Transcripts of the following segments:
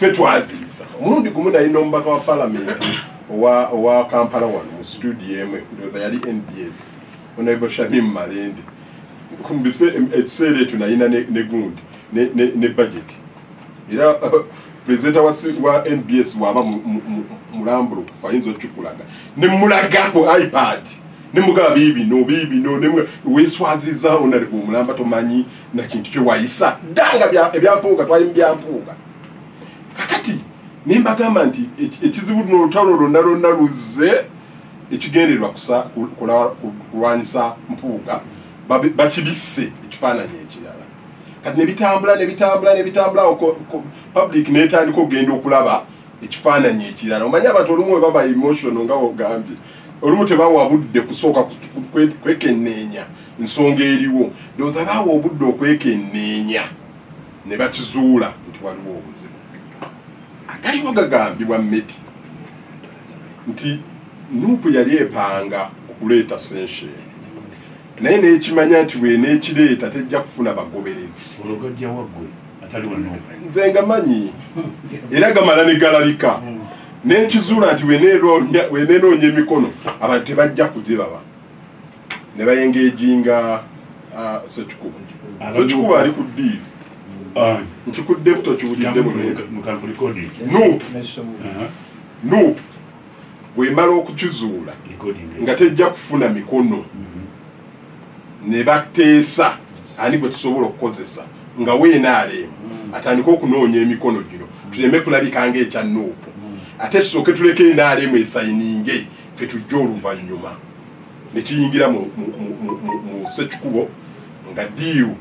ffe twaziisa omulundi gumu naye n'omubaka wa palamenti owa kampala wano mu studio emu ndoza yali nbs onaibo shamim malende kumbise ekiseera ekyo nayina ne gundi ne budget era pulezidenta wa nbs waba mulambulo kufa ayinza okukikulaga ne mulaga ku ipad nemugaba bibino bibino weswaziza onaleka omulamba tomanyi nakintu kyewayisa danga ebyampuuga twali mubyampuuga kakati nembagamba nti ekizibu no olutalo lwonna lwonna luzze ekigendererwa kulwanyisa mpuuga bakibisse ekifaananyi ekirala kati nebitambula nebitambula nebitambula public netandika okugenda okulaba ekifaananyi ekirala omanye abantu olumu webaba emotional nga wogambye olumu tebawa budde kusooka kwekenneenya nsonga eriwo ndowooza baawa obudde okwekenneenya ne bakizuula nti waliwo obuzibu agaliwo gagambibwa medi nti nuupu yali epanga okuleeta senshen naye nekimanya nti bwenekireeta tejja kufuna bagoberezi nze nga manyi era gamala negalabika nekizuula nti wenenoonya emikono abantu tebajja kugibaba nebayengejinga ah, sekikuba sekikuba ali ku diiri ah. nkikuddemu tokiwuliddemu nup bwemala okukizuula nga tejja kufuna mikono mm. ne bateesa ani gwe tusobola okukozesa nga weenaaleemu mm. atandike okunoonya emikono gino tuleme kulabika ngaekya nuupu mm. ate tusooke tuleka enaaleemu esayininge fe tujja oluvannyuma ne kiyingira mu sekikubo nga diiru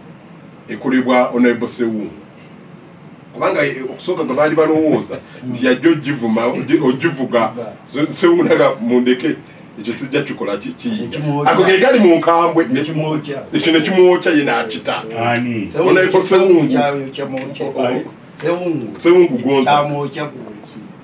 ekolebwa onable sewungu kubanga eh, okusooka nga baali balowooza nti yajja ogivuma ogivuga sewunaga mundeke ekyo sijja kikola kiyinja ako ge gali mu nkambwe ekyo ne kimwokya ye n'akita onayeko sewungu sewungu gonza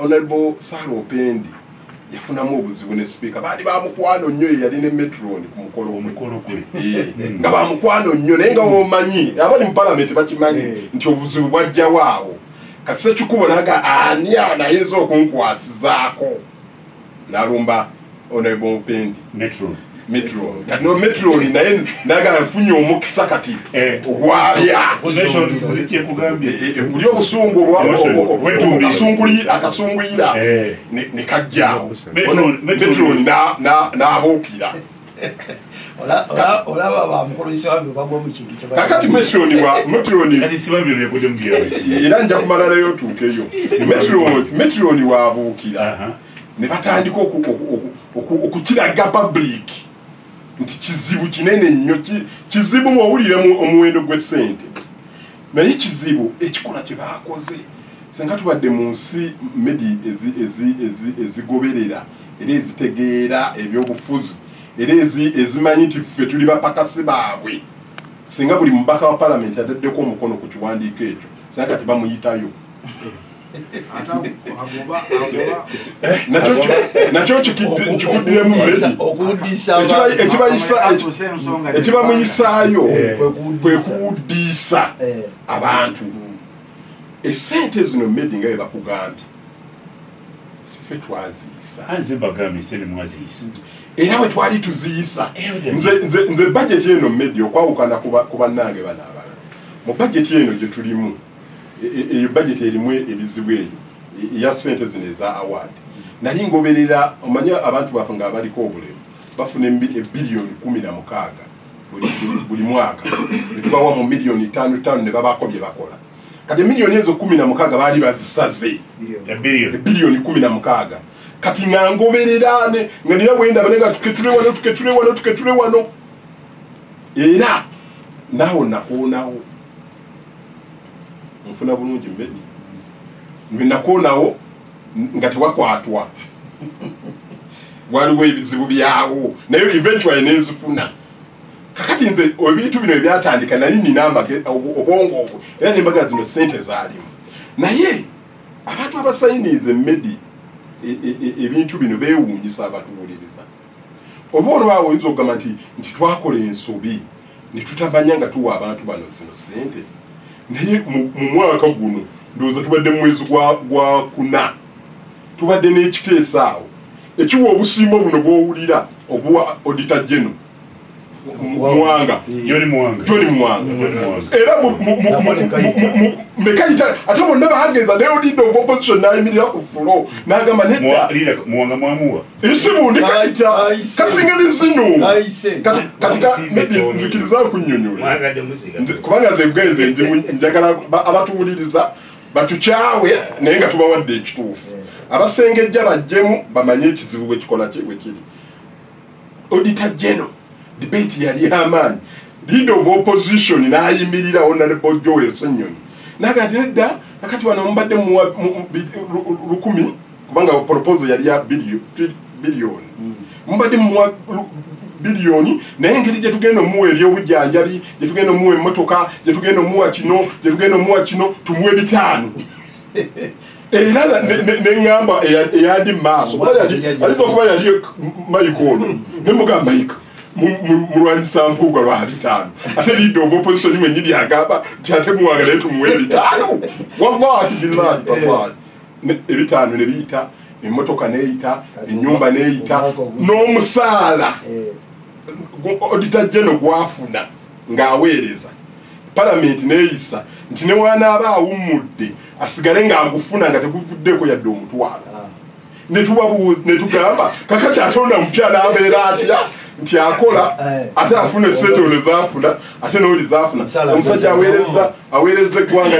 honorable sara opendi yafunamu obuzibu ne sipiika baali bamukwano nnyo yeyali ne metron ku mukolo eh, hmm. nga bamukwano nnyo naye nga womanyi abali mu palamenti bakimanyi eh. nti obuzibu bwajjawo awo kati sekikubo naga ani anayinza okunkwasizaako nalumba honorable mupendi metro metro no metro naye naga nfunye omukisa kati eh. ogwabya kuli obusungu obwasunguli akasunguyira eh. ne kajja metro nabuukira olaba bamukulisa wange bagwa mu kintu kakati metironi wa metironi era nja kumalalayo otuukeyo metironi wabuukira ne batandika okukiraga pabuliiki nti kizibu kinene nnyo kizibu mwowulire omuwendo gw'essente naye kizibu ekikola kye baakoze senga tubadde mu nsi medi ezigoberera ezi, ezi, ezi era ezitegeera ebyobufuzi era ezimanyi nti ffe tuli bapakasi baabwe singa buli mubaka wa palamenti ataddeko omukono ku kiwandiiko ekyo singa kati bamuyitayo nakyo kikiddiremu ekibamuyisaayo eh. kwe kuwuddiisa eh. abantu esente zino medi nga bebakugambye ffe twaziyisa nze mbagambye sene mwaziyisa era bwe twali tuziyisa nze bajeti eno media okwawukana ku bannange bano abala mu bajeti eno gye tulimu e, e, eyo bajeti erimu ebizibu eyo e, eya sente zino eza award nali ngoberera omanye abantu baffe nga abaliko obulemu bafuna ebiriyoni kumi na mukaaga buli mwaka netubawa mu miliyoni tano tano ne babaako bye bakola kati emiliyoni ezo kumi na mukaaga baali bazisaze ebiliyoni kumi na mukaaga kati nga ngobererane nga nira bwendaba naye nga tuketule wano tuketule wano tuketule wano era nawo nakoonawo nfuna bulungi mbedi nwe nakoonawo nga tewakwatwa waliwo ebizibu byawo naye eventually nenzifuna kakati nze ebintu bino ebyatandika nali nina obwongo obwo era nembaga zino sente zalimu naye abantu abasayiniiza emedi e, e, e, ebintu bino bewuunyisa abatuwuliriza oba olwawo oyinza okugamba nti nti twakola ensobi netutamanya nga tuwa abantu bano zino sente naye mu mwaka guno ndowooza tubadde mu mwezi gwa kuna tubadde n'ekiteesaawo ekiwa obusimba obuno bwowulira obuwa odita geno muwanga joni muwanga joni muwanga era mekayita ate bonna bagenza ne odidde of opposition nayimirira ku fulo nagamba neddamuwanga mwamuwa isimu ndikayita kasinga nezino katinzikiriza kunyonyola kubanga nze bwenze njagala abatuwuliriza batukyawe naye nga tubawadde ekituufu abasengejja bajjemu bamanye ekizibu bwekikola kyebwekiri auditor general debate yali amaanyi leader of opposition nayimirira honorable joel senyonyi naga ati nedda akati wano mubadde lukumi kubanga proposal yali ya biliyoni mm. mubadde muwa biliyoni naye engeri gyetugenda omuwa ebyobujjanjabi gyetugenda omuwa emmotoka gyetugenda omuwa kino gyetugenda omuwa kino tumuwe bitaano era neŋamba eyandi mumaaso ayinza okuba yali mayika ono nemugamba mayika mulwanyisa mpuuga lwa bitaano ate lidde ova opposition mwenyini agamba nti ate muwanga naye tumuwa ebitaano wallahi billahi tallahi ebitaano ne biyita emmotoka neyita enyumba neyita n'omusaala eh. odita jeno gwafuna ng'aweereza palamenti neeyisa nti ne wanaaba awummudde asigale ng'agufuna nga teguvuddeeko yadde omutwalo netugamba kakati atonda mupya n'abeera atya nti akola eh. ate afuna esente ole zafuna ate noli zafuna omusajja awereza awereza eggwanga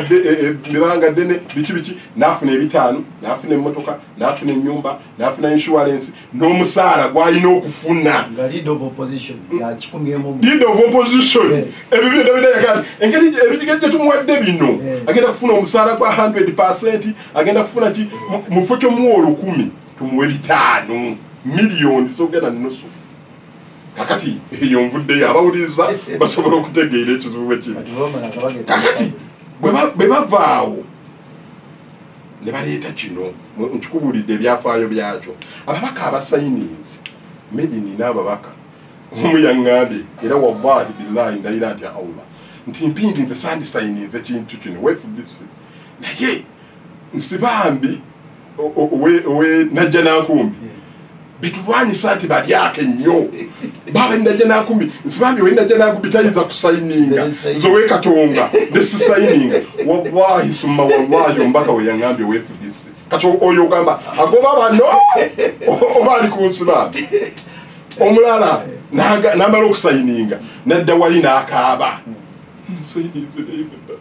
ebanga eh, eh, ddene biki biki nafuna ebitaano nafuna emmotoka nafuna enyumba nafuna insurance n'omusaala gwalina okufuna leader of opposition ebyo byonna bidayagati engeri ebidiga gye tumuwadde bino agenda kufuna omusaala gwa 100 percent agenda kufuna ki mufo kyomuwa olukumi tumuwe bitaano miliyoni zogenda nusu kakati eyo nvuddeyo abawuliriza basobola okutegeera ekizibu bwe kiri kakati bwe bavaawo ne baleeta kino nkikubuulidde ebyafaayo byakyo ababaka abasayininzi medini n'ababaka omu yaŋŋambye era wallahi billahi ndayira atya allah nti mpindi nze sandisayininze kintu kino wefudisi naye nsibambi owe najja nankumbi bitulwanyisa nti balyako ennyo baba najja nankumbi nsibambi owe najja nankumbi tayinza kusayininga nze owekatonga nesisayininga wallahi summa wallahi ombaka weyangambye wefudisi kati oyo ogamba agoba bano oba ali kunsibambi omulala namala okusayininga nadda wali nakaaba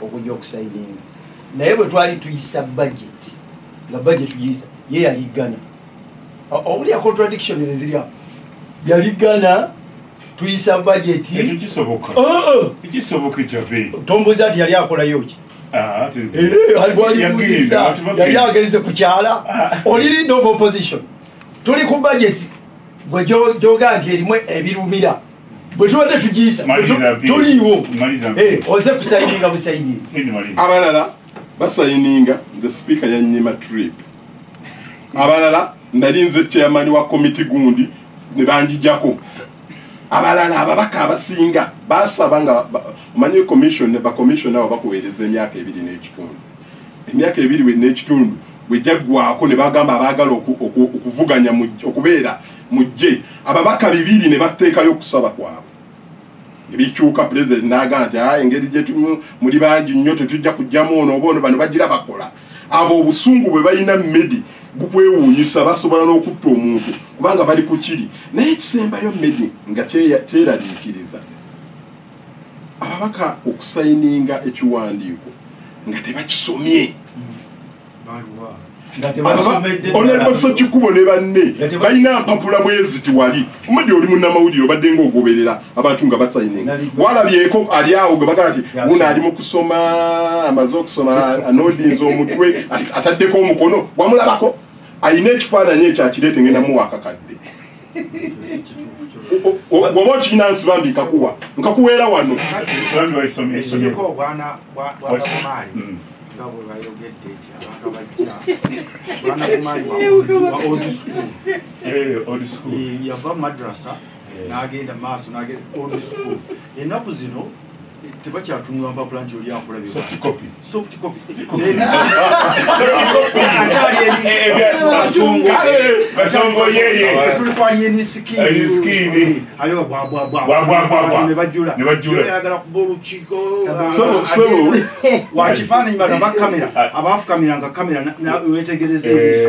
okujja okusayiringa naye bwe twali tuyisa budget nga budget tuyisa ye yali ggana omuli ya contradiction eziri awo yali ggana tuyisa budget ekyo kisoboka ekisoboka ekyabe tombuza nti yali akolayo ki Ah, yali agenze kukyala ah. oli lead of opposition tuli ku budget gwe gyoga nti erimu ebirumira bwetubadde tugiyisa tuliiwo eh, oze kusayininga busayinizi abalala basayininga nze sipiika yanyima trip abalala nali nze chairman wa komiti gundi ne banjijako abalala ababaka abasinga basaba nga omanyi commission bacommissiona abo bakuweereza emyaka ebiri n'ekitundu emyaka ebiri n'ekitundu bwejjaggwako ne bagamba abaagala okuvuganya okubeera mu ggye ababaka bibiri ne batteekayo okusaba kwabwe ebikyuka pulezidenti n'agamba nti a engeri gye tumu muli bangi nnyo tetujja kujjamu ono oba ono bano bagira bakola abo obusungu bwe balina medi bukwewuunyisa basobola n'okutta omuntu kubanga bali ku kiri naye ekisembayo medi nga kyeraliikiriza ababaka okusayininga ekiwandiiko nga tebakisomye onabaso kikubo ne banne balina mpapula bwezi tiwali omudi oli munamawulire obadde nga ogoberera abantu nga basayini walabyeko ali awo gwe bagaa ti una ali mukusoma amaze okusoma anodinza omutwe ataddeko omukono wamulabako alina ekifaananyi ekyo akireete ngenda muwa akakadde oba okirina nsi bambi nkakuwa nkakuweera wano yava madrasa nagenda maaso nagenda old school enaku zino tebakyatunula mpapula nti oli akulabiaayagala kuba olukiikowakifaananyi bana bakamera abafukamira nga kamera wetegereza ebiso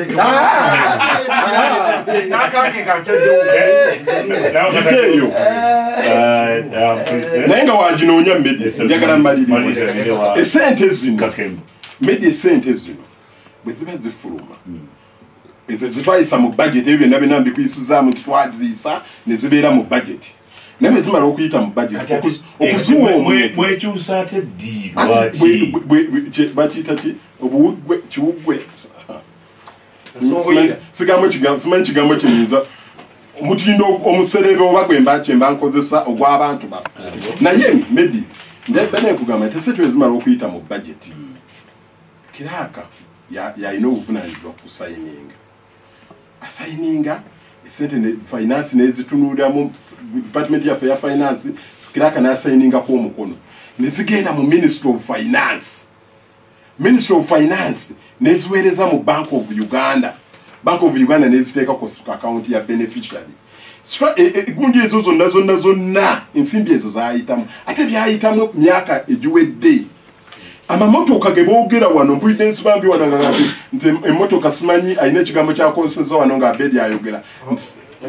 naye nga waginoonya medjagala maliriza esente zino medya esente zino bwe ziba zifuluma hmm. ezo zitwayisa mu bajeti ebyo byonna byonna mbikuyisizaamu nti twaziisa ne zibeera mu bajeti naye nezimala okuyita mu bajeti okuziwa omwekyusa ate ddi bakiyita ki obuwuggwe kiwuggwe sigambo kigambo simanyi kigambo kiyinza omutindo omuserebe oba gwe mbakye mba nkozesa ogw'abantu baffe naye medi benekugamba nti esetu ezimala okuyita mu bajeti hmm. kiraaka yalina obuvunanyizibwa kusayininga asayininga esente finance nezitunuliramu department yaffe ya finance kiraaka nasayiningaku omukono nezigenda mu ministry of finance ministry of finance neziweereza mu bank of uganda bank of uganda neziteeka ku akawunti ya beneficiary e, e, egunju ezo zonna zonna zonna ensimbi ezo zayitamu ate byayitamu myaka egiwedde amamotoka ge boogera wano mpulidde nsibambi wano nga nti emotoka simanyi alina ekigambo kyakonseza wano nga abedi ayogera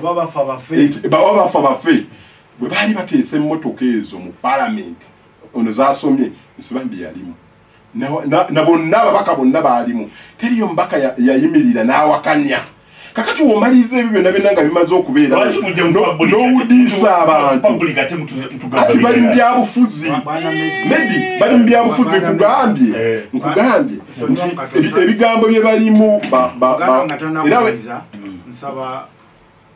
bawa bafa bafe bwe baali bateesa emmotoka ezo mu palamenti ono zasomye nsibambi yalimu na bonna ababaka bonna baalimu teriyo mubaka yayimirira n'awakanya kakati womaliriza ebyo byonna byonna nga bimaze okubeera n'owudiisa abantuati bali mu byabufuzi medi bali mu byabufuzi nkugambye eh. nkugambye nti ebigambo bye balimu era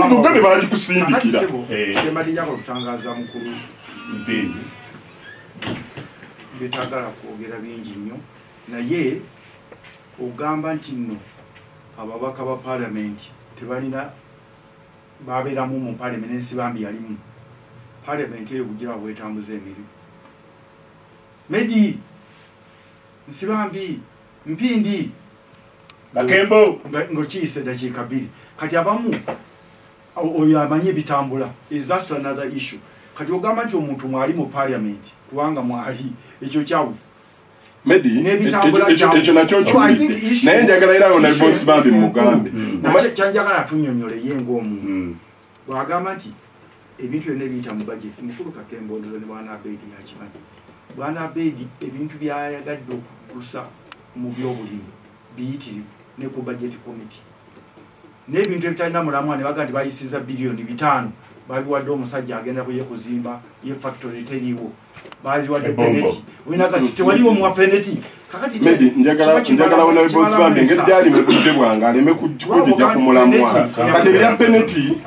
omugabe balikusindikira betagala kwogera bingi nnyo naye ogamba nti nno ababaka ba palamenti tebalina babeeramu mu palamenti ensi bambi yalimu palamenti eyo bugira bwetambuza emirimu medi nsibambi mpindi bakembo ngokiyise dakiika bbiri kati abamu oyo amanyi ebitambula isas another issue kati ogamba nti omuntu mwali mu parliament kubanga mwali ekyo kyawufu ekyo nakyoknaye njagala era yona bosbambi mugambe kyanjagala atunyonyole ye ngaomuntu hmm. bwagamba nti ebintu byonna ebiyita mu bajeti mukulu kakembondoza ne bwana abeidi yakimanyi bwana abeidi ebintu byayagadde okugusa mu byobulimi biyitirivu ne ku bajeti komiti n'ebintu ebitalina mulamwa ne baga nti bayisiza biliyoni bitaano babiwadde omusajja agenda kuye kuzimba ye factory teriiwo bazi wadde peneti olina kati tewaliwo muwa peneti medi njagala wona bebonsi bambi engeri gyali mu budde bwange aleme kujija ku mulamwa kati ebya peneti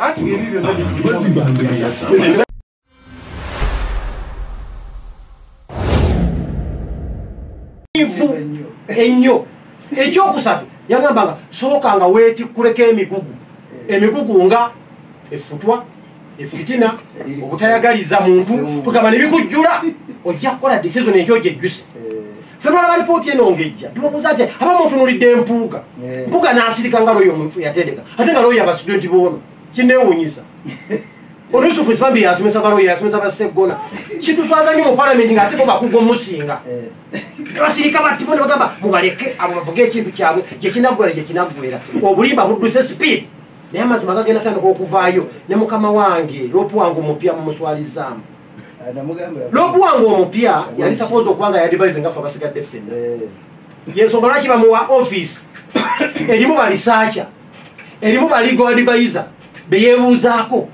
ennyo ekyokusatu yagambanga sooka nga wetikkuleko emigugu emigugu nga efutwa efitina obutayagaliza muntu tugamba nebikujjula ojja kukola decision ejo gyejjuse fenwala balipooti eno ngejja tubabuuza nti aba mutunulidde empuuga mpuuga nasirika nga looyo omufu yatendeka ate nga looyo abastudenti boono kinewunyisa olusufu sibambi yasomesa baloyo yasomesa baseggona kituswaza nyo mu palamenti nga ate bo bakuga omusinga basirika bati bona bagamba mubaleke abo bavuga ekintu kyabwe gyekinaggwera gyekinaggwera obulimba budduse sipiidi naye amazima gagenda tandika okuvaayo ne mukama wange lopu wange omupya mumuswalizaamu eh, lopu wange omupya yali sapoza okuba nga yadivise nga fe abasigadde ffenna eh. yensonga lwaki bamuwa office erimu balisaaca erimu baligo adivise beyebuuzaako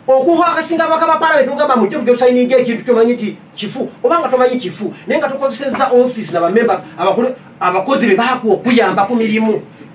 okuha akasinga abaka ba palamenti ogamba mujje mujja osayininga ekintu kyomanyi nti kifu oba nga tomanyi kifu naye nga tukozesezza office nabamemba abakozi be bakuwa okuyamba ku mirimu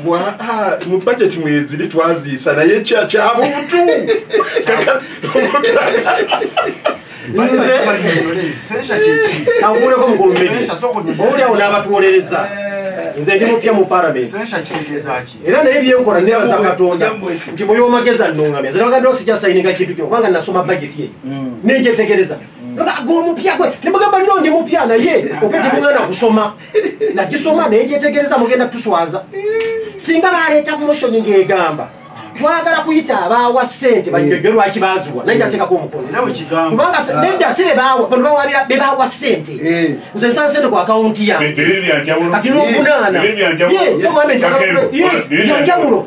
mbu aa ah, ah, mu bajeti mweziri twaziisa naye kyabuntu awuleko mukulumbeowuliawo n'abatuwolereza eh. nze ndi mupya mu paramenti era naye byenkola nebaza katonda nti muli omageza nongamya zenabagadde osija sayininga kintu kino kubanga nasoma bajeti ye mm. nejetegereza mm. gomupya gwe nemugamba lino ndi mupya naye okati mwana kusoma nagisoma naye gyetegereza mugenda tuswaza singa baleeta moshoni ng'egamba twagala kuyita abaawa sente banyege lwaki baziwa naye jatekako omukonokubanga nedda si bebawa bano bawabira bebawa sente eh. nze nsana sente ku akawunti yange kati nokunaana yanjawulo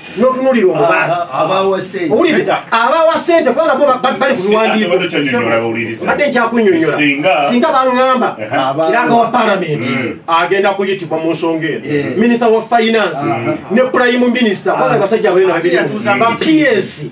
notunulira omubaziabawa sente kubanga bo bali kubiwandiikobadde nkyakunyonyola singa baŋamba kiranga wa palamenti mm. agenda kuyitibwa mu nsonga eno eh. minisita wa finance mm. ne prime minisita kubanga basajja abalina babiri bapiyesi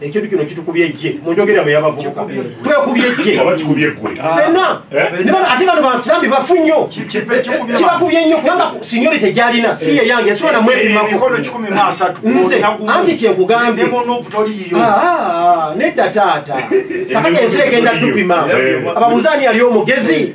ekintu kino kitukubye ejje munjogera bwe yabavubuka twekubye ejje fenna ah. ate bano bantu bambi bafu nnyo kibakubye nnyo kubanga sinyori tegyalina si ye yange ensobola namwepimakonze anti kyekugambye ah, ah, nedda taata kakati ensi egenda tupima ababuzaani yali omugezi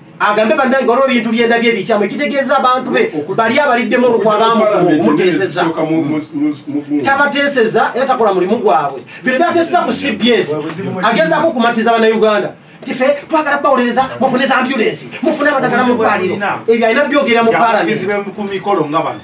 agambe banange waliwo ebintu byendabye ebikyamu ekitegeeza abantu be bali abaliddemu olukwa bamuteeseza tabateeseza era takola mulimu gwabwe bino byateeseza ku cbs agezaako okumatiza banauganda tife twagala kubawolereza mufune za ambulensi mufune abadagala mu ddwaliro ebyo alina byogera mu palamenti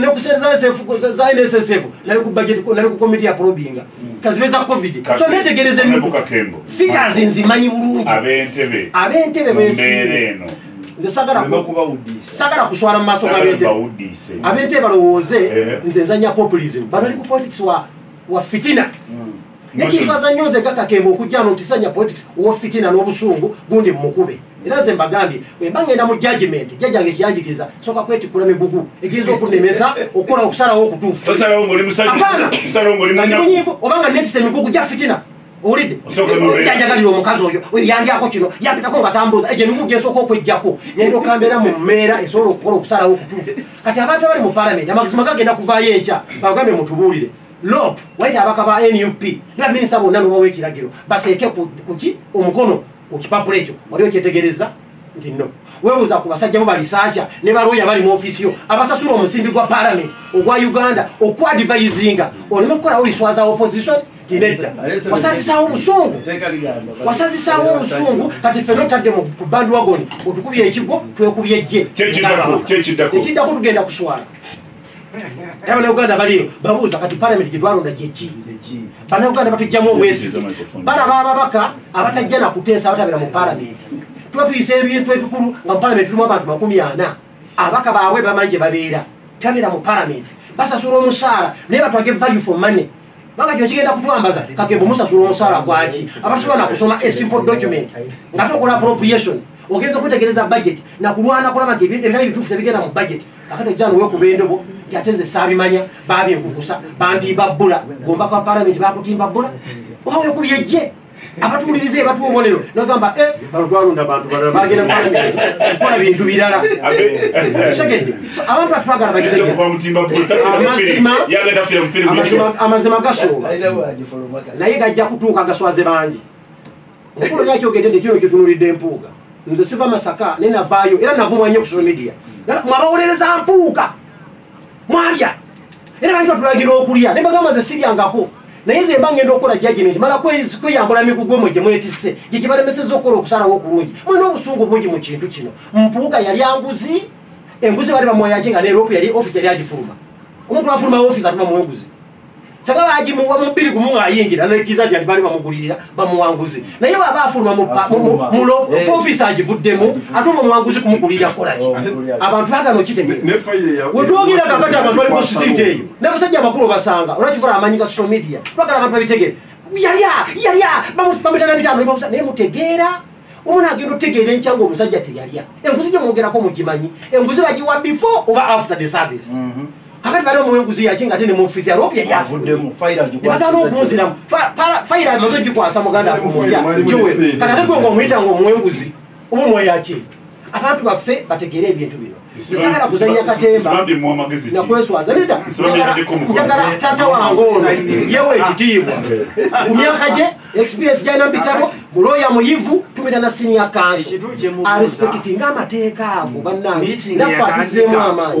nekusnssf nali ku budget nali ku committee ya probinga kazibeza covid so netegereza emmotoka figures nzimanyi bulungi abentebe abentebe bembeera eno sagala kuswala mumaaso gabentebe balowooze eh. nze nzanya populism bano ali ku politics wa fitina mm. nekifaza nnyo nze kakakemba okujjano nti sanya politics wofitina n'obusungu gundi mumukube era nze mbagambye bwemba ngenda mu judgment jajja nge kyanjigiriza soka kwetikula migugu egiyinza okunemesa okukola okusalawo okutuufumunyifu obanga netisa emigugu gya fitina owulidde janjagalira omukazi oyo oyo yandyako kino yampitako nga tambuuza egyo emigugu gyesooka okwejjako nendo kambeera mu mmeera esobola okukola okusalawo okutuufu kati abantu abali mu palamenti amagezi magagenda kuvaayo enkya bagambye mutubuulire lop waite abaka ba nup na minisita bonna nobawa ekiragiro baseeke kuki omukono ku kipapula ekyo wali okyetegereza nti no webuuza ku basajja bo balisaaca ne balooya bali mu ofiisi yo abasasula omusimbi gwa palamenti ogwa uganda okuadivayizinga oleme kukolawo biswaza opposition tinedda wasazisaawo obusungu wasazisaawo obusungu kati ffe notadde mu bandwagoni otukubye ekigwo twekubye jje ekiddako tugenda kuswala abanauganda baliyo babuuza kati palamenti gyetwalonda kyeki banauganda batujjamu obwesi balaba ababaka abatajja nakuteesa abatabera mu palamenti tuba tuyisa ebintu ebikulu nga mu palamenti tulimu abantu makumi ana abaka baabwe bamanyi gye babeera tabera mu palamenti basasula omusaala naye batwage value for money banga kino kigenda kutwambaza kakembo musasula omusaala gwaki abatasobola nakusoma a simple document nga tokola appropriation ogenza okwetegereza budget nakulwana kulaba nti ebitali bituufu tebigenda mu budget kakati ojja nowekuba endobo nti ate nze saabimanya babinkukusa bantiiba bbula gomba kwa palamenti bakutimba bbula oba wekubye jje abatuwuliriza ebatuwa obubonero nagamba eh, bano twalonda bantu balala bagenda kukola bintu birala kitegedde abantu batwagala bakitegeddeamazima gasooba naye gajja kutuuka gaswaze bangi mukulu yaki ogende nti kino kyotunulidde empuuga nze siva masaka naye navaayo era navumwa nnyo ku social media mwabawolereza mpuuga mwalya era bangi batulagira okulya ne bagamba nze siryangako naye nze mba ngenda okukola jajimenti mala kweyambula migugu mwe gye mwetisse gye gye balemesezza okukola okusalawo okulungi mwe n'obusungu bungi mu kintu kino mpuuga yali anguzi enguzi bali bamuwayaki nga neropu yali ofisi yali agifuluma omuntu afuluma ofisi atuma muwenguzi saba bagimuwa mubiri gumu ng'ayingira nekkiza nti alibaali bamugulirira bamuwanguzi naye bwaba afuluma mufisa agivuddemu ate oba omuwanguzi kumugulirira kukolaki oh, abantu bagana okitegeewetwogera kakati abantu bali ku sitiiti eyo n'abasajja abakulu obasanga olwakivula amanyi ga social media bagala abantu babitegere yalya yalya bamutana bitano naye mutegeera omwana agenda otegeera enkya nga omusajja teyalya enguzi gyemwogerako mugimanyi enguzi bagiwa before oba after the service mhm. kakati bali omuwa enguzi yaki nga ate ne mufizi alopi yali avuddemu nebagana okunziramu fayira amaze ogikwasa muganda akumulya kati ate gwe nga omuyita nga omuwa enguzi oba omuwa yaki abantu baffe bategeere ebintu bino sagala kuzanya katemba nakweswaza neda njagala tata wange ono yewa ekitiibwa ku myaka gye experience gyalina bitabo muloya muyivu tumira na siniya kanso arespekti nga amateeka ago bannange nafe atuzemu amaanyi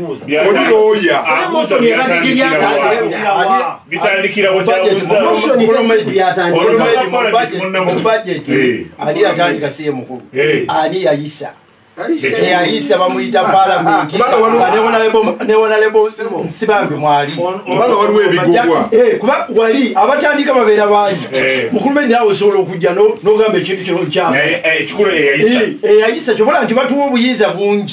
ani yayisa eyayisa bamuyita palamenti newonalebonsibange mwalikuba eh, wali abatandika babeera bangi eh. mukulu be nawe osobola okujja nogamba ekintu kino kyeyayisa eh, kyobola nti batuwa obuyinza bungi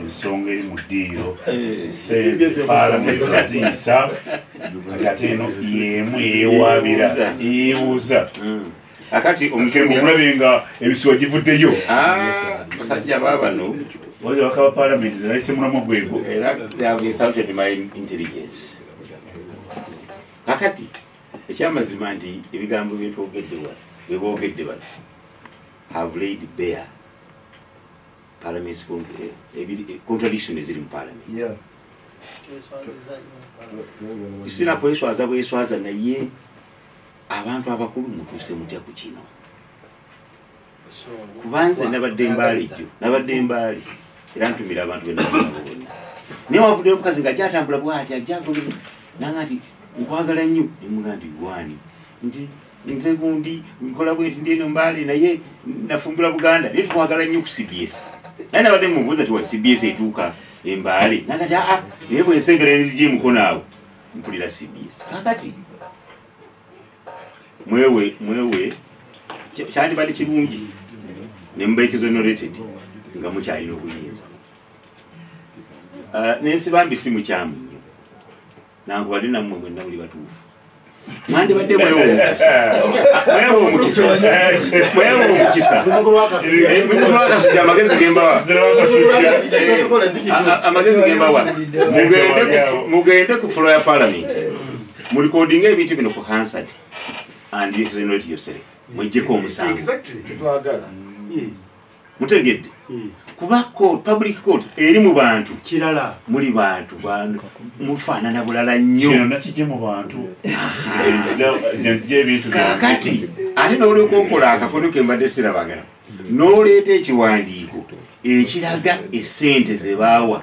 ensonga eri mu ddiiro eh, sente paalamenti ziyisa kati ate eno yemu yewaabira yeebuuza hmm. akati omukiremu omulabe nga ebisuwa givuddeyo ah, basajja babano waza bakaba paalamenti zinaise mulamu gwego kakati ekyamazima nti ebigambo byetwogedde wa bebogedde bano have laid bear parliament eh, ebiri eh, contradiction eziri mu parliament yeah isina kweswaza bweswaza naye abantu abakulu mutuse mutya ku kino kubanze nabadde mbaali jjo nabadde mbaali era ntumira abantu benabo bonna naye wavuddeyo omukazi nga jatambula bwati ajjago nanga nti nkwagala nnyo nemuga nti gwani nti nze gundi nkola bweti ndi eno mbaale naye nafumbula buganda naye tukwagala nnyo ku cbs naye nabadde mubuuza tiwa cbs etuuka embaale nagati aa ah, ah, naye bwensembera nzija emukono awo mpulira cbs kakati mwewe mwewe kyandibadde kirungi nemubaekizonorated nga mukyalina obuyinza ah, nensi bambi si mukyamu nankubadde nammwe mwenna muli batuufu mwandibadde mwewomukisaamagezi gembawa mugende ku fulo ya palamenti mulikodinga ebintu bino ku hansad and yourself mwejjeko omusango mutegedde hmm. kuba court public court eri mu bantu kirala muli bantu bantu mufaanana bulala nnyo kakati ate nolyoka okola akakono kembadde sirabagala noleeta ekiwandiiko ekiraga esente zebaawa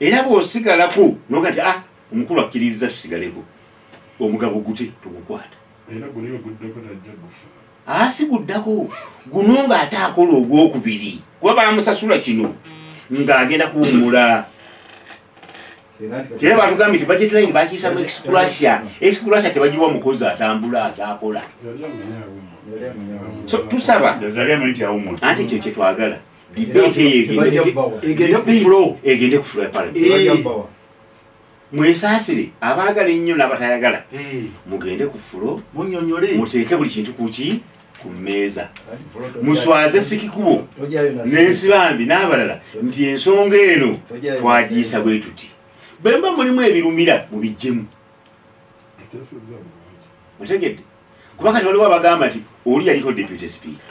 era bwosigalako noga ti a ah, omukulu akkiriza tusigaleko omugabo gute tugukwata asi ah, guddako guno nga ate akola ogwokubiri kuba bamusasula kino ng'agenda kuwumula era batugambye ti budget line bakiyisamu excrussia excrussia tebagiwa mukozi atambula atakola so tusaba anti ekyo kyetwagala mwesasire abaagala ennyo nabatayagala mugende ku fulo muteeke buli kintu kuki ku mmeeza muswaze sikikubo n'ensi bambi n'abalala nti ensonga eno twagiyisa bwe tuti bwe mba mulimu ebirumira mubijjemu otegedde kuba kati waliwo abagamba nti oli yaliko deputy speaker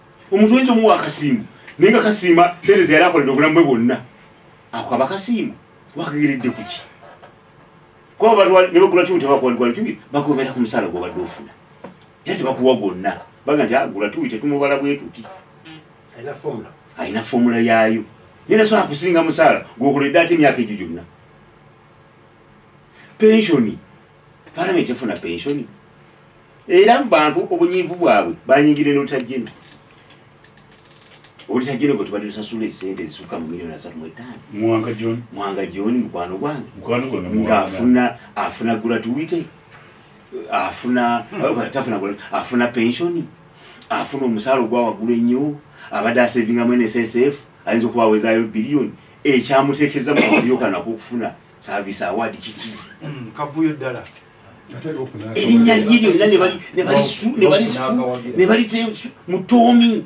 omuntu oyinza omuwa akasiimu naye nga kasiima sente zeyali akolera obulamu bwe bwonna akwaba kasiimu wakageredde kuki kuba bantu nebagula kimu tebakuwagula kimu bakubeera ku musaala gwobadde ofuna era tebakuwa gwonna baga nti agula ah, tuwi tetumubala bwetuti alina fomula yaayo naye nasobola kusinga musaala gwokoledde ate emyaka egyo gyonna pensioni palamenti efuna pensioni era mu bantu obunyiivu bwabwe banyingira enotajeno olutajeno gwe tubadde tusasula esente ezisukka mu milioni asatu mu etaano mwanga joni mukwano gwange ngaafuna afuna guratuwite afuna hmm. tafuna afuna pensioni afuna omusaala ogwa waggulu ennyo abadde asevingamu nssf ayinza okuba awezayo biliyoni ekyamuteekeza mu kabuyokanako okufuna service award kiki mm, kavuyo dala erinya lye lyonna nebalite mutomi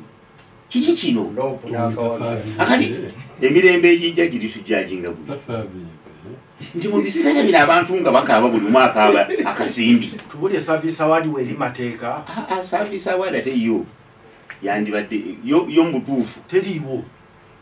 kiki kino akati emirembe egijja giritujajinga bu nti mu biseera bino abantu nga bakaaba buli omu akaaba akasimbi tubulye service award weri mateeka ah, ah, service award ate yo yandibadde yo mubutuufu teriiwo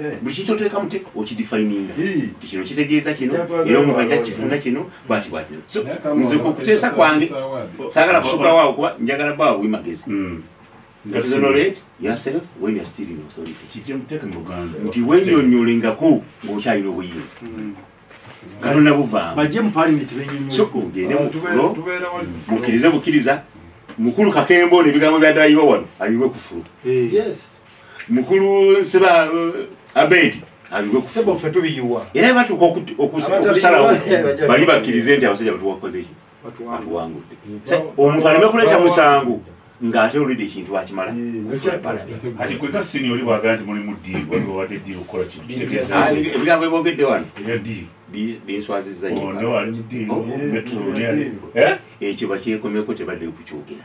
Eh. buli kintu oteekamu te okidifininga ti kino kitegeeza kino era omuntu ajja kifuna kino bwati bwati nze okuteesa kwange saagala kusukawo awo kuba njagala bawa bwi magezi hmm. nti wenyonyolengako ng'okyalina obuyinza hmm. kalona buvaamukirize bukiriza mukulu kakembo nebigambo byadayirwa wano ayiwe kufulu eh. mukulu seba uh, abedi era batuuka okusalawo bali bakkirize nti abasajja batuwakozeki batuwangudde omuntu aleme kuleeta musango ngaate olide ekintu akimala ebigambo ebogedde wano binswazizzaekyo bakyekomeko tebadde kukyogera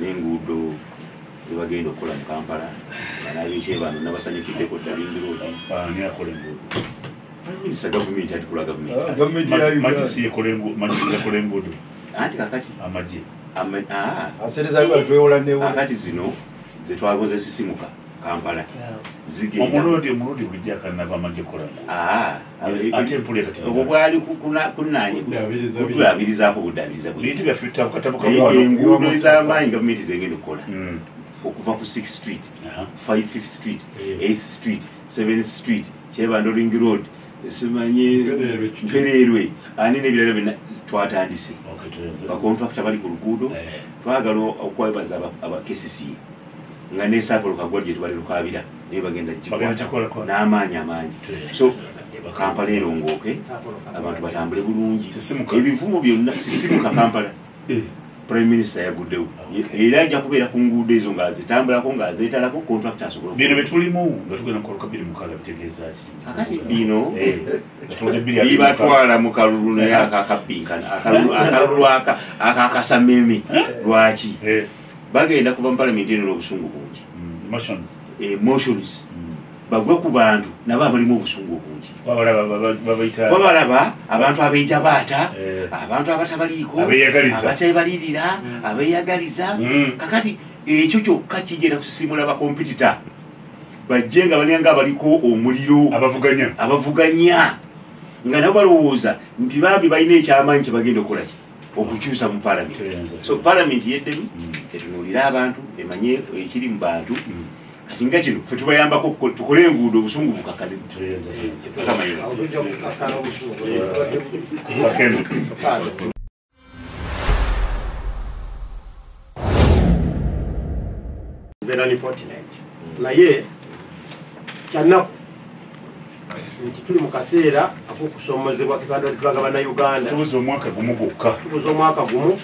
n'enguudo zebagenda okukola mu kampala banabice bano nabasanyukiddeko dda lindiroodminisita gavumenti atikola gavumentiyakole enguudo anti kakati amaje ah. akati zino zetwagoze sisimuka kampala zigendaobwo bwali kutulabirizako budabirizaenguudo ezamaanyi gavumenti zengenda okukola hmm. okuva ku six street five fifth street eh. eighth street seventh street kyebandoring road simanyi mpereerwe ani nebirala byona twatandise bakontrakita bali ku luguudo eh. twagala okwebaza abakesisiye nga nesaagalo kagwa gye tubali lukaabira naye bagenda kikwata n'amaanyi amaangi so kampala erongooke abantu batambule bulungi ebivumo byonna sisimuka kampala eh. prime minister yaguddewo era ajja kubeera ku nguudo ezo nga zitambulako nga zeetalako contract asobola bino byetulimu nga tugenda mukaluka biri mukala bitegeeza ki akati bino eh, bibatwala mu kalulu naye akakabbinkana akalulu akakasameme eh? lwaki eh. bagenda kuva mu palamenti eno n'obusungu bungi emotions eh, mm. bagwe ku bantu nabo abalimu obusungu obungi babalaba abantu abeija baata eh. abantu abatabaliiko abatebalirira mm. abeyagaliza mm. kakati ekyo kyokka kigenda kusisimula bakompitita bajje nga balinga abaliko omuliro abavuganya nga nabo balowooza nti bambi balina ekyamaanyi kyebagenda okukolaki okukyusa mu palamenti so palamenti yeddemu mm. etunulire abantu emanye ekiri mu bantu mm. kati nga kino fe tubayambako tukole enguudo obusungu bukakale naye kyanaku nti tuli mu kaseera akokusomozebwa kebandwalitulaga banauganda tubuza omwaka gumu gwokka tubuza omwaka gumu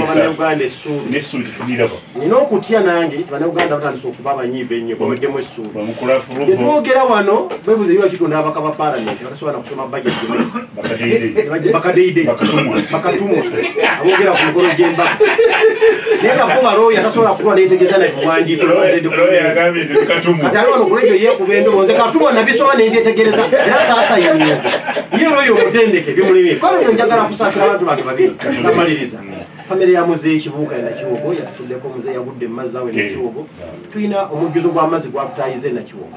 banauganda esuulinesuulituliraba nina okutya nange banauganda batandisa okuba abanyiiva ennyo baweddemu esuuli etwogera wano bebuza ira kitonda abaka ba palamenti batasobola nakusoma bajeti bakadeide bakatumwa abogera ku mukolo gyembaga naye kakuba balooya tasobola kutwa netegeza naye kuwandiikati ali wano kulegyo yekuba endobooze katumwa nabisoma nembyetegereza era saasayanyiza ye looya omutendeke bimulimye kuba bino njagala kusaasira abantu bange babiri namaliriza famire ya muzeeyi kibuuka e nakiwogo yatufuddeko muzeeyi yagudde mu mazzi awo e nakiwogo tulina omujjuzo gw'amazzi gwatutayiza e nakiwogo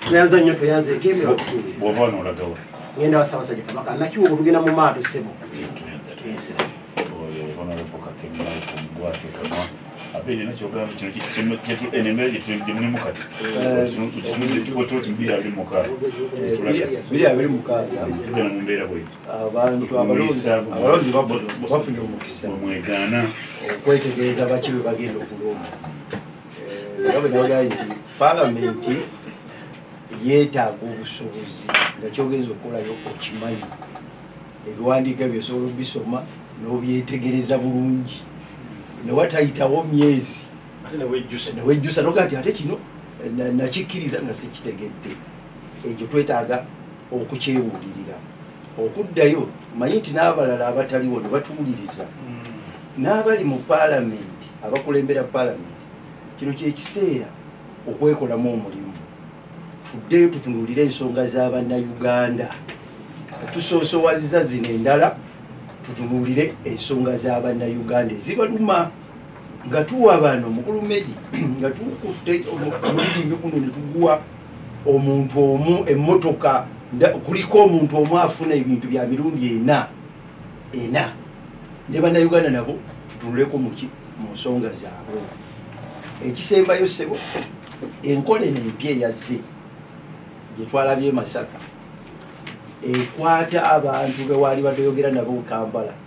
tweyanza nnyo tweyanzeeko emiro bwova nolagawa ngenda wasabasajja kabaka nakiwa olugenda mu maato sebo mwegaana okwetegereza baki bwe bagenda okulumba nga bwe nabagambye nti palamenti yeetaaga obusobozi nga kyogeeza okukolayo okimanyi ebiwandiiko ebyo osobola obisoma n'obyetegereza bulungi newatayitawo myezi newejjusa noga nti ate kino nakikkiriza nga sikitegedde ekyo twetaaga okukyewulirira okuddayo manye nti n'abalala abataliwo ne batuwuliriza mm. n'abali mu paalamenti abakulembera paalamenti kino kyekiseera okwekolamu omulimu tuddeyo tutunulire ensonga z'abannayuganda tusoosowaziza zino endala tutunulire ensonga z'abannayuganda ezibaluma nga tuwa bano mukulu medi nga tukutte omulimi guno ne tuguwa omuntu omu emmotoka kuliko omuntu omu afuna ebintu bya mirundi ena ena ne bannayuganda nabo tutunuleko muki mu nsonga zaabwe ekisembayo sebo enkola eno empya eyazze gyetwalabye e masaka ekwata abantu bewaali badeyogera nabo kampala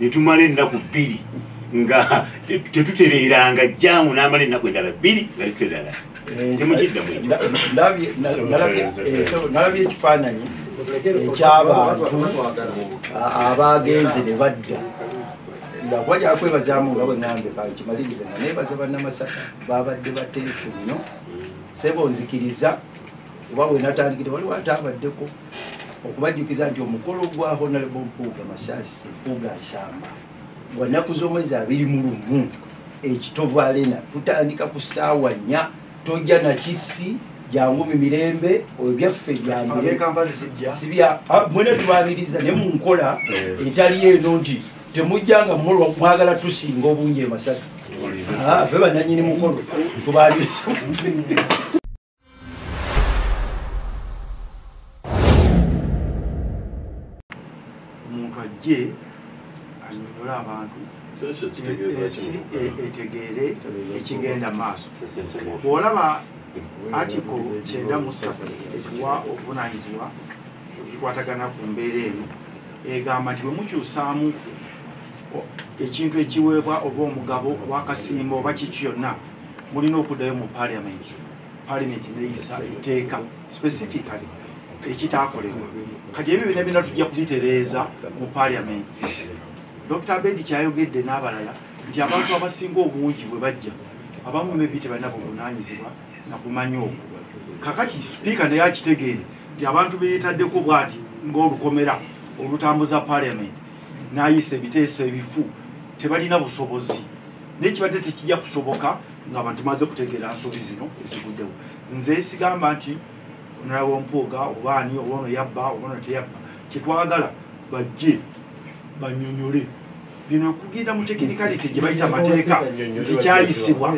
netumala ennaku bbiri nga tetutereeranga jjaamu n'amala ennaku endala bbiri nga tetuterala eh, temukiddamunalabye eh, ekifaananyi ekyabantu abaagenze ne badda kuba kyakwebazaamu nga bwenambe kimalirize nga nebaza bannamasaka babadde bateefu nnyo sebo nzikiriza oba wenatandikire waliwo ate abaddeko okubajjukiza nti omukolo gwa honalebo mpuuga masasi mpuuga nsamba gwa nnaku z'omwezi abiri mu lumu ekitovu alena tutandika ku ssaawa nnya tojja nakisi jangu mu mirembe ebyaffe byamsibya ah, mwena tubaniriza ne mu nkola eh. etali eno nti temujja nga mwagala tusinga obungi emasaka ah, fe bananyini mukolo tubaniriza omuntu ajje anyonyole abantu etegeere ekigenda maaso bwolaba atiko kyenda musatu ekiwa obuvunanyizibwa ekikwatagana ku mbeera eno egamba nti bwemukyusaamu ekintu ekiweebwa oba omugabo wakasimba oba kiki kyonna mulina okuddayo mu parliament parliament neyisa etteeka specifically ekitakolebwa kati ebyo bina bina tujja kubitereeza mu parliament dr bedi kyayogedde n'abalala nti abantu abasinga obungi bwe bajja abamu mebi tebalina buvunanyizibwa nakumanya okwo kakati sipiika naye akitegeere nti abantu beyetaddeko bwati ngaolukomera olutambuza parliament nayisa ebiteeso ebifu tebalina busobozi naye kibadde tekijja kusoboka nga abantu maze kutegeera nsobi zino eziguddewo nze sigamba nti nalaba ompuuga oba ani oba ono yabba oba ono teyabba kyetwagala bajje banyonyole bino okugenda mu tekinikali tegyebayita mateeka tekyayisibwa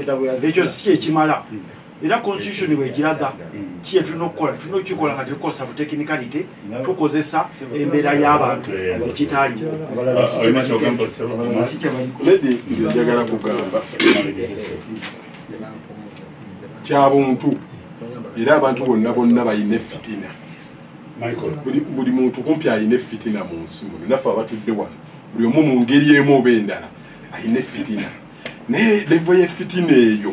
ekyo si kyekimala era constitution bwekiraga kiye tulina okukola tulina okukikola nga tetukozesa butechnicality tukozesa embeera y'abantu ekitaaliwo njagala kugamba kyabuntu era abantu bonna bonna balina efitina buli muntu kumpi alina efitina mu nsi muno naffe abatudde wano buli omu mu ngeri emu oba endala alina efitina naye levo yefitina eyo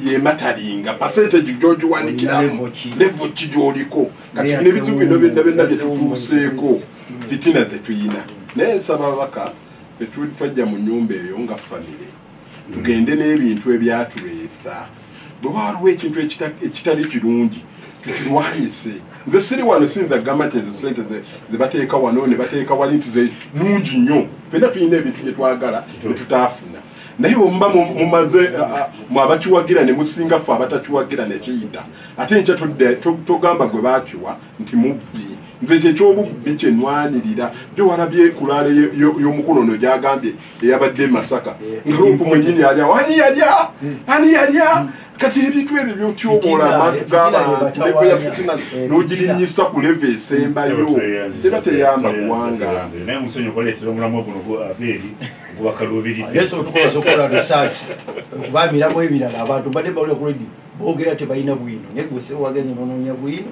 yematalinga pasenteji gyogiwanikiramu levo ki gyoliko kati bino ebizibu bino byonna byonna byetutuuseeko fitina zetuyina naye nsaba ababaka fetuli twajja mu nyumba eyo nga famire tugende n'ebintu ebyatuleesa bwe waliwo ekintu ekitali kirungi tukirwanyise nze siri wano siyinza kugamba nti ezo sente zebateeka wano ne bateeka wali nti zenungi nnyo fena tulina ebintu bye twagala netutaafuna naye omuba mumaze mu abakiwagira ne musinga ffe abatakiwagira nekiyita ate nkya togamba gwe bakiwa nti mubbi nze kyekyobubbi kyenwanirira gye walabye ekulaale y'omukuno no gyagambye eyabadde masaka ngalupu mwenyini yalya wani yalya hmm. ani yalya hmm. kati ebintu ebyo byotyoboola abantu gabantu levo ya fitina eh, nogirinyisa ku levo esembayo era teyamba kuwanga bamiramu ebirala abantu badde bawulira ku redi bogera tebalina bwino naye gwe sewagenze nononya bwino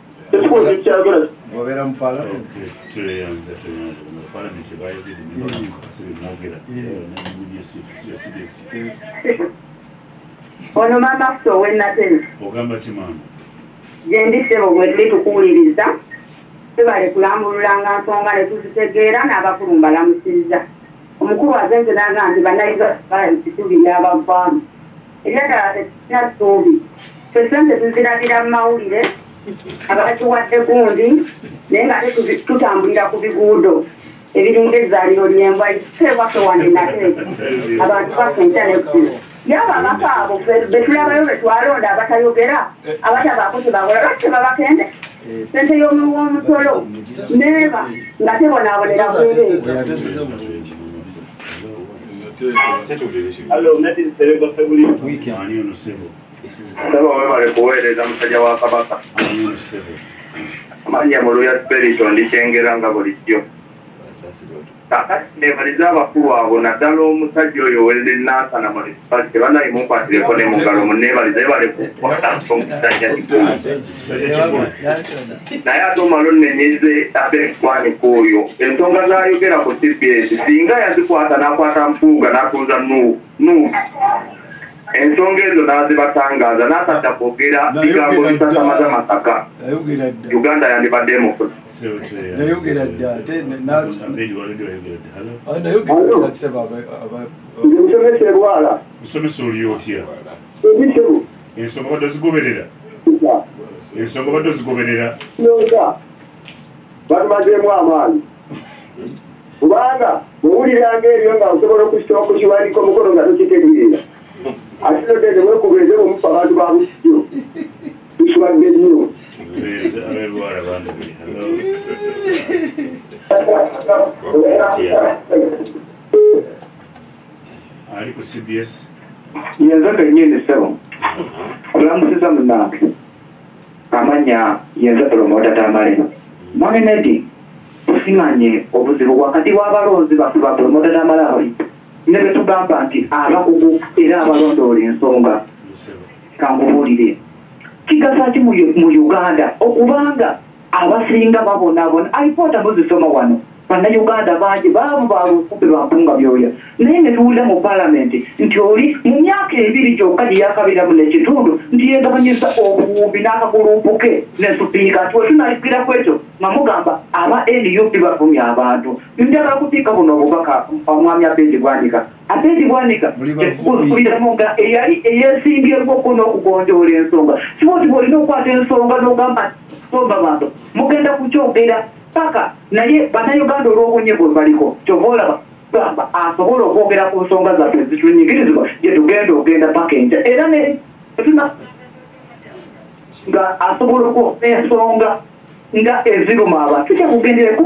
ekibuuzo ekyagala obeera mu palamenti tweyanza tweyanza mu palamenti bayogede nibamwogera ono mama ffe owenatena ogamba ki mama gyendi sebo bwetuli tukuwuliriza tebale kulambululanga nsonga netuzitegeera n'abakulu mbalamusiriza omukulu aze nze naga nti banayiza balabikitubiri abavaamu Era tekirina ssuubi. Ffe ssente tuzirabira mu mawulire abatuwadde gundi naye nga ate tutambulira ku biguudo ebiringa ezzaaliro lyembwa ise waffe wande nate abantu basenja nekkulo yaba abaka abo betulabayo betwalonda abatayogera abatabaako kyebakola lwaki tebabakende sente y'omuwi w'omusolo neeba nga tebonaabonera bweree webale kuweereza musajja wa kabaka manya mu luya spirito ndikyengera nga bulijjo kakati nebaliza abakulu abo naddala omusajja oyo welde nansana mulispate banaye mukwatireko ne mugalo munebaliza ebale kukwata omusajja kikulu naye ate omala onnenyeze ate ekikwanika oyo ensonga zayogera ku cbs singa yazikwata n'akwata mpuuga n'atunza nuubu ensonga ezo n'azibatangaza n'atadda kwogera bigambo bisasamaza masaka uganda yandibadde emufunayogera dda ate nayogera ensonga badde zigoberera ensonga badde zigoberera batumazeemu amaanyi kubanga bwewuliranga ebyo nga osobola okusitoa ku kiwandiko mukono nga tokitegeera ate nogende wekubeeze bumufu abantu ba busijo tusiwadde nnyo Yeah. ali ku cbs yenze kenyini sebo kulamusiza munange amanya yenze promota tamale mwami nedi tusimanye obuzibu wakati wabalonzi baffe ba promota tamale abali ne betugamba nti abakugu era abalondoola ensonga kankubuulire kigasa ki mu uganda okubanga Abasinga babonabona alipoota muzisoma wano. Bannayuganda bangi baavu ba luukumbi lwa mpunga byoya naye ne tuwulira mu Palamenti nti oli mu myaka ebiri gyokka gye yaakabeeramu n'ekitundu nti yeegabanyizza obuwumbi n'akaguluupu ke ne Sipiika nti we tunaayukira ku ekyo nga mugamba aba nup bavumye abantu. Njagala kuteeka buno obubaka Mwami Abed Bwanika. Abed Bwanika nkusuubiramu nga eyali eyeesimbyewo ko n'okugonjoola ensonga. Si bw'oti bw'olina okukwata ensonga n'ogamba nti Bomba bantu mugenda kukyogera paka naye bannayuganda olw'obunye bwe baliko kyova olaba gamba asobola okwogera ku nsonga zaffe ezitunyigirizibwa gye tugenda ogenda paka enkya era netuna nga asobola okwogera ensonga nga eziruma abantu kyakugendereku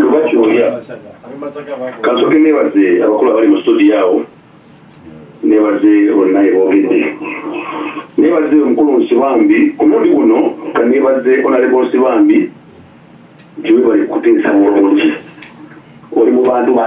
lubakyoya kasoke nebaze abakulu abali mu studio awo nebaze bonna ebogedde nebaze omukulu nsibambi ku mundi guno kanebaze onalebo nsibambi nti webali kuteesa bulungi oli mu bantu ba